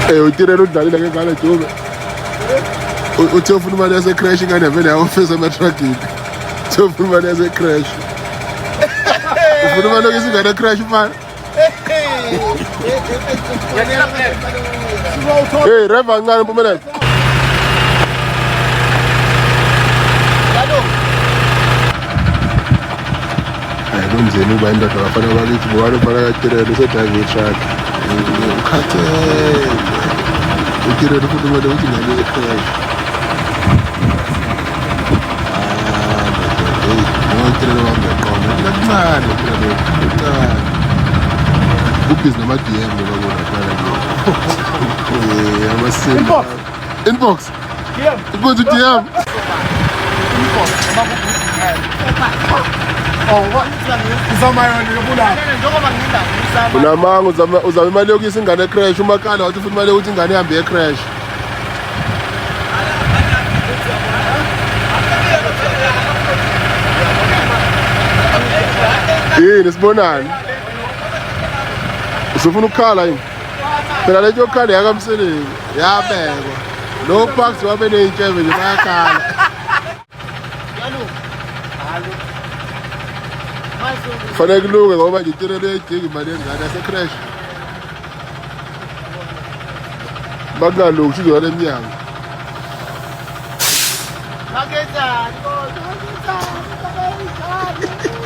Eh utirela udlalile ke ngale dube. Uthe ufuna imali yase crash ingane vele yawofesa ama trucking. Uthe ufuna imali yase crash. Ufuna imali lokho isingane crash mfana. Hey, reva ngani mpumelelo. kunzima ukuba indoda bafana bakithi bobani ufana katirelo usedrayive itruck ukhathele utirelo futhi kumele ukuthi ngane ekhona utirelo wami yaqoma kancane utirelo kancane ubhizi nama-dm lobabona kala amasini inbox Go to DM. unamanga uzama uzama imali yokuyisa ingane ecrash umakhala wathi futhi imali yokuthi ingane ihambe yecrash yini sibonani usufuna ukukhala yini phela lento yokukhanda yakamsiningi yabekwa lo parks wabe neyintshebe nje bayakhala fanele kulunge ngoba nje itele leyidinga imali yengane yasecrash bakungalungi ushizoya le mnyango Magazine, magazine, magazine.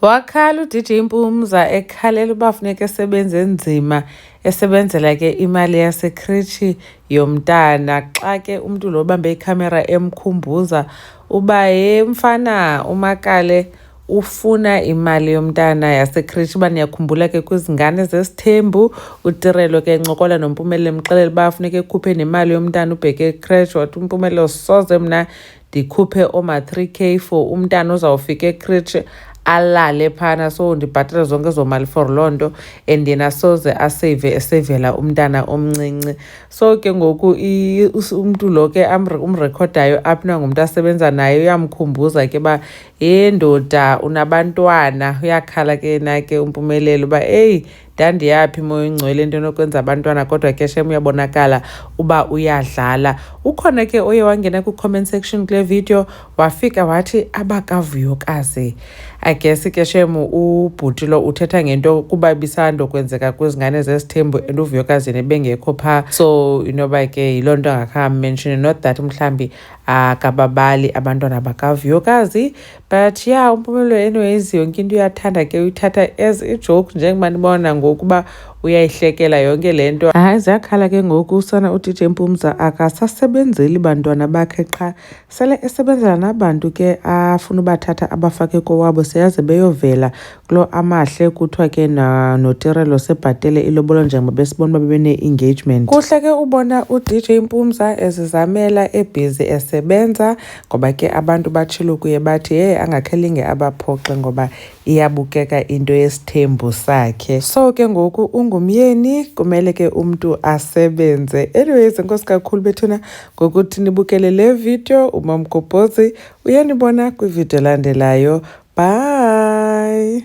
Wakhala uDJ Mpumza ekhalela uba funeka esebenze enzima esebenzela ke imali yasekritshi yomntana xa ke umntu lo bambe ikhamera emkhumbuza uba ye mfana umakale ufuna imali yomntana yasekritshi uba niyakhumbula ke kwizingane zesithembu utirelo ke ncokola nompumelelo emxelela uba funeka ekhuphe nemali yomntana ubheke ekretshi wathi umpumelelo soze mna ndikhuphe oma 3 k for umntana ozawufika ekritshe alale phana so ndibhatale zonke ezo mali for loo nto and yena soze asave esevela umntana omncinci so ke ngoku umntu lo ke umrekhodayo apna ngumntu asebenza naye uyamkhumbuza ke uba he ndoda unabantwana uyakhala ke na ke umpumelelo uba eyi ndandiyaphi moya ongcwele into enokwenza abantwana kodwa ke shem uyabonakala uba uyadlala ukhona ke oye wangena kwi-comment section kule video wafika wathi abakavuyokazi i guess ke shem ubhuti lo uthetha ngento kuba bisandokwenzeka kwizingane zesithembu and uvuyokazini ebengekho phaa so inoba ke yiloo nto angakhammenshini not that mhlawumbi akababali abantwana bakavuyokazi but ya yeah, umpumelelo enoyenzi yonke into uyathanda ke uyithatha as ijoke njengoba nibona ngokuba uyayihlekela yonke le nto hayi ziyakhala ke ngoku usana udj mpumza akasasebenzeli bantwana bakhe qha sele esebenzela nabantu ke afuna ubathatha abafake kowabo seyaze beyovela Lo amahle kuthiwa ke notirelo sebhatele ilobolo njengoba besibona uba bebene-engagement kuhle ke ubona udj mpumza ezizamela ebhizi esebenza ngoba ke abantu batshilo kuye bathi hey angakhelinge abaphoxe ngoba iyabukeka into yesithembu sakhe so ke ngoku ungumyeni kumele ke umntu asebenze anyways nkosi kakhulu bethuna ngokuthi nibukele le video umamgobhozi Uyenibona kwividiyo elandelayo. Bye!